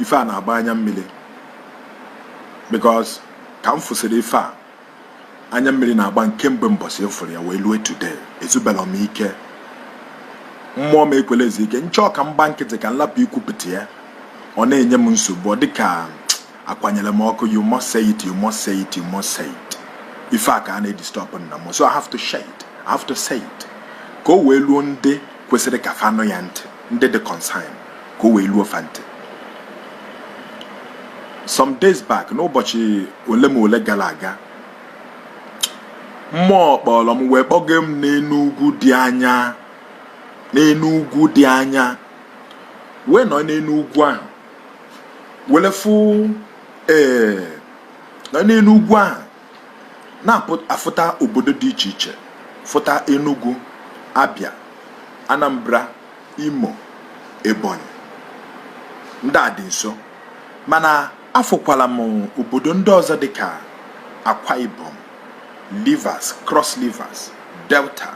ife na-agba anya mmiri because ka m fụsịrị ife a anya mmiri na-agba m kemgbe mbọsị m fụrụ ya wee lue today ezubela m ike mmụọ m ekwela ezu ike m chọọ ka m gba nkịtị ka m lapụ ikwupụta ya ọ na-enye m nsogbu ọ dịka akwanyere m ọkụ you must say it you must say it you must say it ife a ka a na-edisturb nna m so I have to say it I have to say it ka o wee luo ndị kwesịrị ka fa nụ ya ntị ndị dị concern ka o wee luo fa ntị some days back n'ụbọchị ole ma ole gara aga mmụọ kpọrọ m wee kpọga m n'enu ugwu dị anya n'enu ugwu dị anya wee nọ n'enu ugwu ahụ were fụ ee nọ n'enu ugwu ahụ na-afụta obodo dị iche iche fụta Enugu Abia Anambra Imo Ebonyi ndị a dị nso mana afụkwala m obodo ndị ọzọ dịka Akwa Ibom Rivers Cross Rivers Delta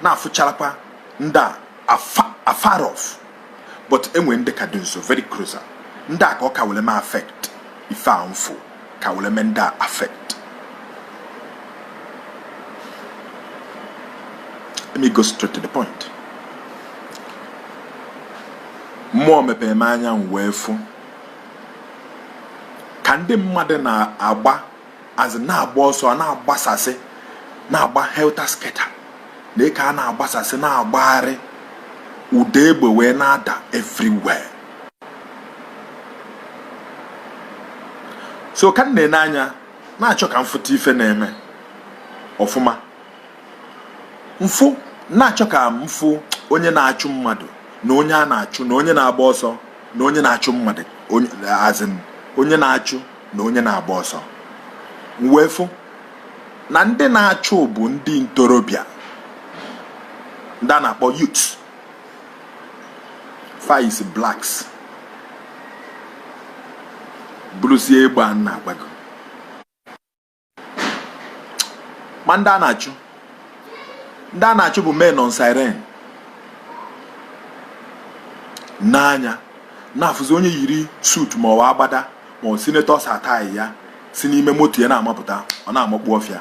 na-afụcharakwa ndị a afar off but e nwe ndị ka dị nso very closer ndị a ka ọ ka were mee affect ife a m fụ ka were mee ndị a affect let me go straight to the point mmụọ mepere m anya m wee fụ ka ndị mmadụ na-agba azị na-agba ọsọ na-agbasasị na-agba helter skelter na ka a na-agbasasị na-agbagharị ụda egbe wee na-ada everywhere so ka m na-ene anya na-achọ ka m fụta ife na-eme ọfụma m fụ na-achọ ka m fụ onye na-achụ mmadụ na onye a na-achụ na onye na-agba ọsọ na onye na-achụ mmadụ as in onye na-achụ na onye na-agba ọsọ m wee fụ na ndị na-achụ bụ ndị ntorobịa ndị a na-akpọ youth fa yisi blacks burusie egbe a na-agbago ma ndị a na-achụ ndị a na-achụ bụ men on siren n'anya na-afụzi onye yiri suit ma ọ agbada ma ọ senator's attire ya si n'ime moto ya na-amapụta ọ na-amakpu ọfịa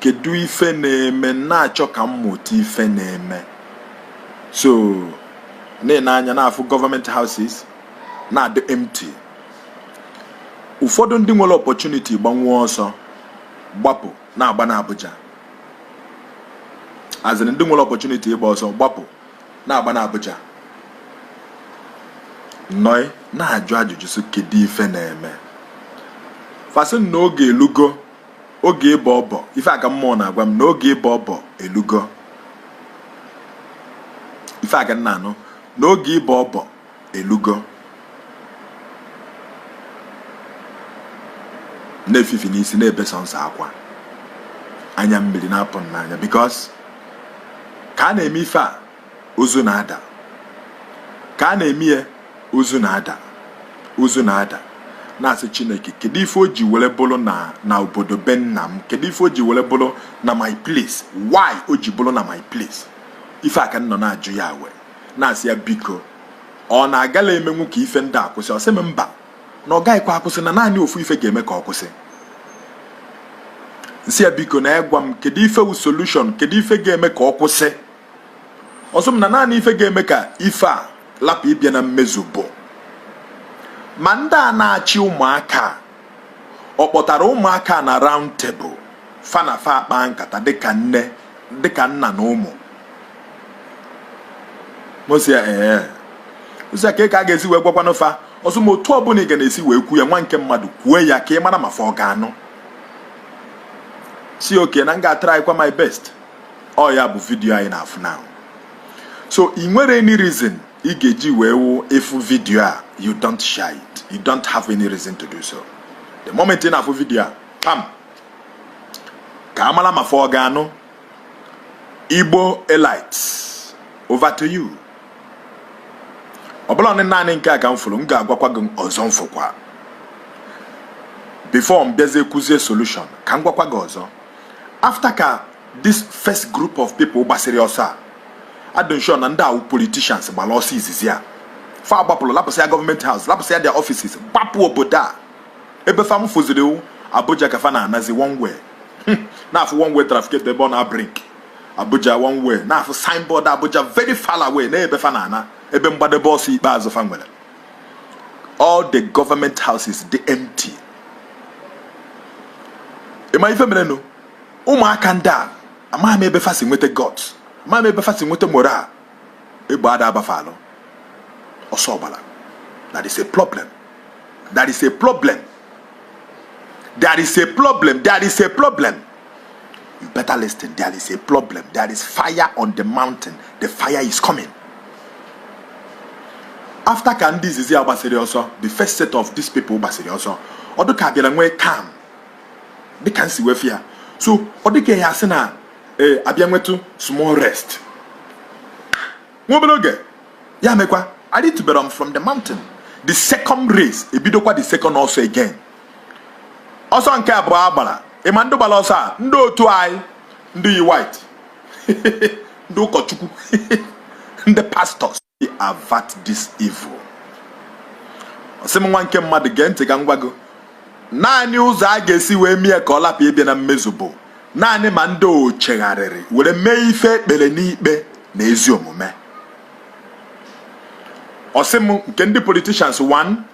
kedu ife na-eme na-achọ ka m mụta ife na-eme so na-ene anya na-afụ government houses na-adị empty ụfọdụ ndị nwere opportunity gbanwee ọsọ gbapụ na-agbana Abuja as in ndị nwere opportunity ịgba ọsọ gbapụ na-agbana Abuja m nọ na-ajụ ajụjụ so kedu ife na-eme fa sị na oge elugo oge ịbọ ọbọ ife a ka mmụọ na-agwa m na oge ịbọ ọbọ elugo ife a ka m na-anụ na oge ịbọ ọbọ elugo na-efifi n'isi na-ebe sọnsọ akwa anya mmiri na-apụ m n'anya because ka a na-eme ife a ozu na-ada ka a na-eme ya ozu na-ada ozu na-ada na-asị chineke kedu ife o ji were bụrụ na na obodo be nna m kedu ife o ji were bụrụ na my place why o ji bụrụ na my place ife a ka m nọ na-ajụ ya wee na-asị ya biko ọ na-agala emenwu ka ife ndị a kwụsị ọ sị m mba na ọ gaghịkwa akwụsị na naanị ofu ife ga-eme ka ọ kwụsị m sị ya biko na ya gwa m kedu ife wu solution kedu ife ga-eme ka ọ kwụsị ọ sị m na naanị ife ga-eme ka ife a lapụ ịbịa na mmezu bụ ma ndị a na-achị ụmụaka ọ kpọtara ụmụaka na round table fa na fa akpaa nkata dịka nna na ụmụ m sị ya ee ozi ka ka a ga-esi wee gwakwanụ fa ọ sị m otu ọbụla ị ga na-esi wee kwu ya nwa nke mmadụ kwue ya ka ị mara ma fa ọ ga-anụ m sị okay na m ga-atrykwa my best ọ ya bụ vidiyo a ị na-afụ now so ị nwere any reason ị ga-eji wee wụ ị fụ vidiyo a you don't share it you don't have any reason to do so the moment ị na-afụ vidiyo a pam ka a mala ma fa ọ ga-anụ igbo elite over to you ọ bụla naanị nke a ka m fụrụ m ga-agwakwa gị ọzọ m fụkwa before m bịazie kwuzie solution ka m gwakwa gị ọzọ after ka this first group of people gbasịrị ọsọ a adị m sure na ndị a wụ politicians gbara ọsọ izizi a fa agbapụrụ lapụsịa government house lapụsịa their offices gbapụ obodo a ebe fa m fụziri abuja ka fa na-anazi one way m na-afụ one way traffic ebe ọ na-ablink abuja one way na-afụ signboard abuja very far away na ebe fa na-ana ebe mgbadebe ọsọ ikpeazụ fa nwere all the government houses dị empty ị ma ife mere nụ ụmụaka ndị a amaghị m ebe fa si nweta gut amaghị m ebe fa si nweta morale egbe ada abafalụ ọ sọ ọbara that is a problem that is a problem there is a problem there is a problem You better listen. There is a problem. There is fire on the mountain. The fire is coming. After ka ndị izizi a gbasịrị ọsọ, the first set of these people gbasịrị ọsọ, ọ dịka abịara nwee calm dịka m si wee fụ ya. So ọ dịka ya asị na ee eh, abịa nwetụ small rest. Nwa obere oge ya mekwa, arịtube from the mountain. The second race ebidokwa the second ọsọ again. ọsọ nke abụọ a gbara ị ma ndị gbara ọsọ a ndị otu anyị ndị yi white ndị ụkọchukwu ndị pastors avert this evil ọ sị m nwa nke mmadụ gee ntị ka m gwa gị naanị ụzọ a ga-esi wee mee ka ọ lapụ ịbịa na mmezu bụ naanị ma ndị o chegharịrị were mee ife e kpere n'ikpe na ezi omume ọ sị m nke ndị politicians 1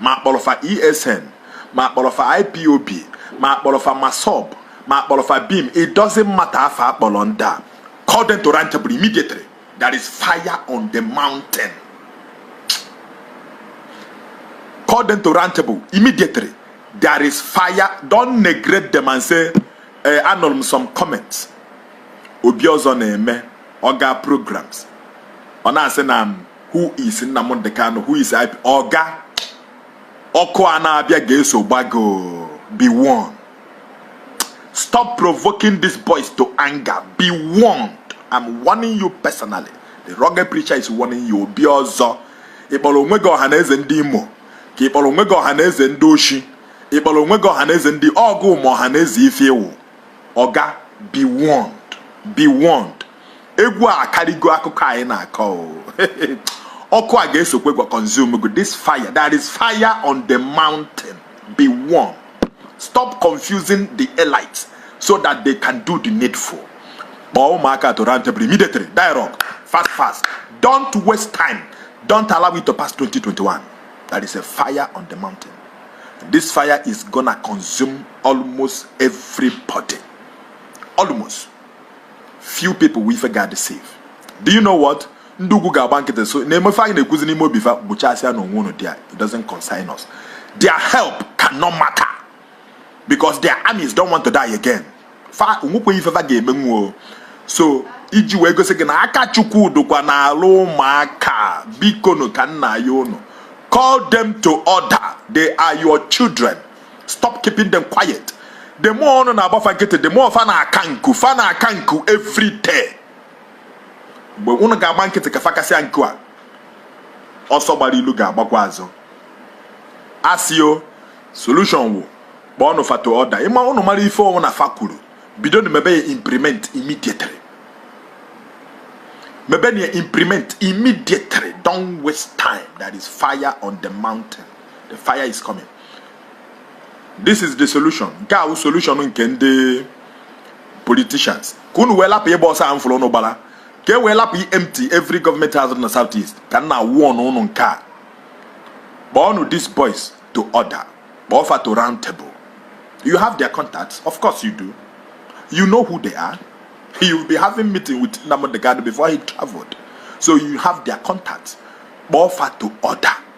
ma a kpọrọ fa ESN ma a kpọrọ fa IPOB ma a kpọrọ fa MASSOB ma a kpọrọ fa BIM it doesn't matter afa a kpọrọ ndị a call them to round table immediately there is fire on the mountain call them to round table immediately there is fire don't neglect them and say eh, anụrụ m some comments Obiọzọ na-eme ọ gaa programs ọ na-asị na who is Nnamdi Kanu who is IP oga ọkụ a na-abịa ga-eso gba gọ be warned stop provoking these boys to anger be warned I'm warning you personally the rugged preacher is warning you Obiọzọ ị kpọrọ onwe gị ọha na eze ndị Imo ka ị kpọrọ onwe gị ọha na eze ndị oshi ị kpọrọ onwe gị ọha na eze ndị ọgụ ma ọha na eze ife ị wụ oga be warned be warned egwu a akarịgo akụkọ anyị na-akọ ọkụ a ga-esokwe gwa consume go this fire there is fire on the mountain be warm stop confusing the elites so that they can do the needful kpọọ ụmụaka to round table immediately dialogue fast fast don't waste time don't allow it to pass 2021 there is a fire on the mountain this fire is gonna consume almost everybody almost few people wụ ife ga-adị safe do you know what ndị ugwu ga-agba nkịtị so na-ene fa anya na-ekwuzi n'ime obi fa gbuchasịanụ onwe unu there it doesn't concern us their help cannot matter because their armies don't want to die again fa onwekweghị ife fa ga-eme nwuo so iji wee gosi gị na aka chukwu dụkwa n'alụ ụmụaka bikonu ka m na-ayọ unu call them to order they are your children stop keeping them quiet the more unu na-agba fa nkịtị the more fa na-aka nku fa na-aka nku every day mgbe unu ga-agba nkịtị ka fa kasịa nku a ọsọ gbara ilu ga-agbakwa azụ asio solution wụ kpọọnụ fa to order ịma unu mara ife ọ wụna fa kwuru bidonụ mebe ya implement immediately mebenụ implement immediately don't waste time there is fire on the mountain the fire is coming this is the solution nke a wụ solution nke ndị politicians ka unu wee lapụ ịgba ọsọ a m fụlụ unu gbala ka e wee lapụ i-empty every government house na south east ka m na-awarn unu nke a kpọọnụ these boys to order kpọọ fa to round table you have their contacts of course you do you know who they are you will be having meeting with Nnamdi Kanu before he traveled so you have their contacts kpọọ fa to order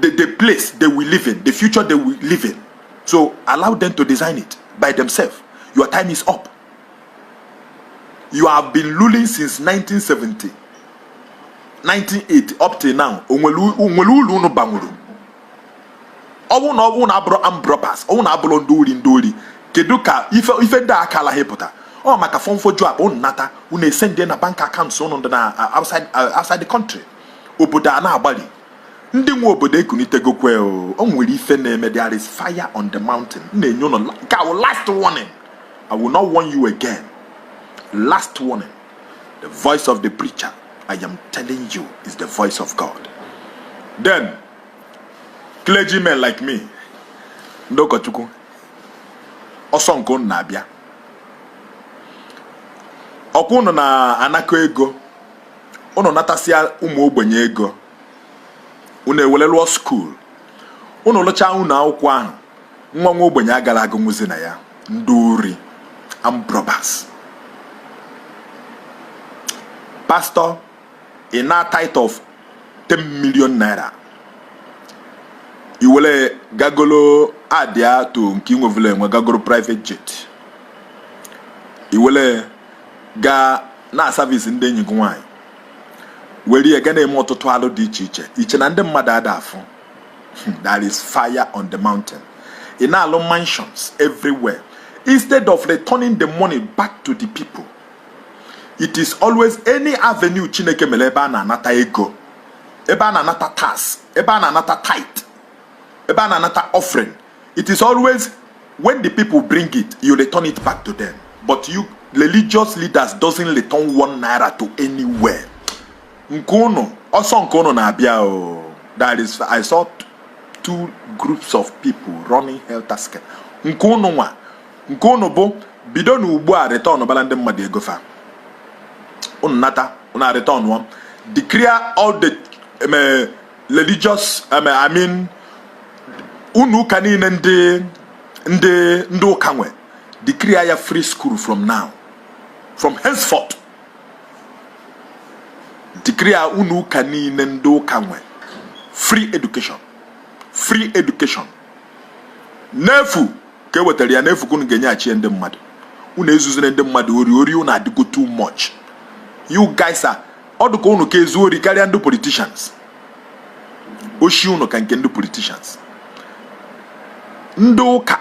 the, the place they will live in, the future they will live in. So allow them to design it by themselves. Your time is up. You have been ruling since 1970, 1980 up till now. O nwelu ulu unu banwuru. Unu na unu na-abụrụ armed robbers, unu na-abụrụ ndị ori ndị ori. Kedu ka ife ife ndị aka ala hepụta? Ọ maka fọmfoju akpa unu nata unu esendie na bank accounts unu dị na uh, outside uh, outside the country. obodo a na-agbalị ndị nwe obodo ekunitegokwe o nwere ife na-eme there is fire on the mountain m na-enye unu nke a wụ last warning i will not warn you again last warning the voice of the preacher i am telling you is the voice of god then clergymen like me ndị ụkọchukwu ọsọ nke unu na-abịa ọkwa unu na-anakọ ego unu natasịa ụmụ ogbenye ego unu ewele lụọ skuul unu lụchaa ụnọ akwụkwọ ahụ nwa nwa ogbenye agara agụnwuzi na ya ndị ori armed robbers pastor ị naa tithe of 10 million naira i wele gaa golo adịa to nke inwevụla enwe gaa goro private jet i wele gaa na-aservice ndị enyi gị nwaanyị were ya ga na-eme ọtụtụ alụ dị iche iche i chee na ndị mmadụ ada afụ hmm, there is fire on the mountain ị na-alụ mansions everywhere instead of returning the money back to the people it is always any avenue chineke mere ebe a na-anata ego ebe a na-anata tax ebe a na-anata tithe ebe a na-anata offering It is always when the people bring it, you return it back to them. But you religious leaders doesn't return one naira to anywhere. Nke unu, ọsọ nke unu na-abịa o. That is, I saw two groups of people running helter skelter. Nke unu nwa, nke unu bụ bidonu ugbu a returnbala ndị mmadụ ego fa. Unu nata, unu return one. Declare all the um, religious um, I mean ụnọ ụka niile ndị ndị ndị ụka nwe declare ya free school from now from henceforth declare ụnọ ụka niile ndị ụka nwe free education free education n'efu ka e wetara ya n'efu ka unu ga-enyeghachi ndị mmadụ unu ezuzine ndị mmadụ ori ori unu adịgo too much you guys are ọ dụka unu ka ezu ori karịa ndị politicians oshi unu ka nke ndị politicians ndị ụka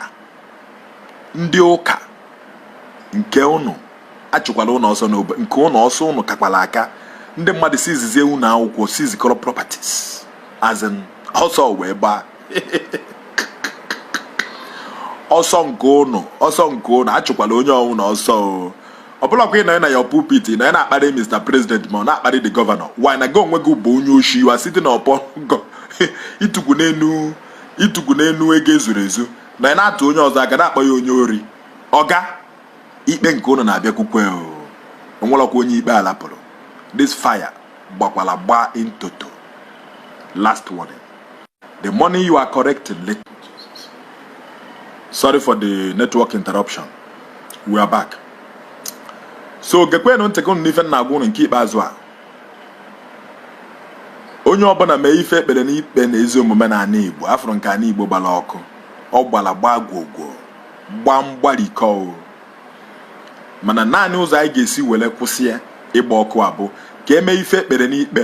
ndị ụka nke unu achụkwala ụnụ ọsọ n'obe nke ụnụ ọsọ ụnụ kakwala aka ndị mmadụ si izizi ewu ụnọ akwụkwọ si izikọrọ properties as in ọsọ wee gbaa ọsọ nke ụnụ ọsọ nke ụnụ achụkwala onye ọwụna ọsọ ọ bụlakwa ị nọ na your pulpit na ị na-akparị Mr President ma ọ na-akparị the governor while na gị onwe gị bụ onye oshi you are sitting upon i tukwu n'enu i tukwu n'enu ego ezuru ezu na ị na-atụ onye ọzọ aka na-akpọ ya onye ori oga ikpe nke ụnụ na-abịakwukwe o nwelọkwa onye ikpe a lapụrụ this fire gbakwala gbaa in toto last warning the money you are collecting sorry for the network interruption we are back so gekwenụ ntị nke unu n'ife m na-agwa ụnụ nke ikpeazụ a onye ọbụla mee ife e kpere n'ikpe na ezi omume na ana igbo a fụrụ nke ana igbo gbara ọkụ ọ gbara gbaa gwogwo gbaa mgbarikọ mana naanị ụzọ anyị ga-esi were kwụsị ya ịgba ọkụ a bụ ka e mee ife e kpere n'ikpe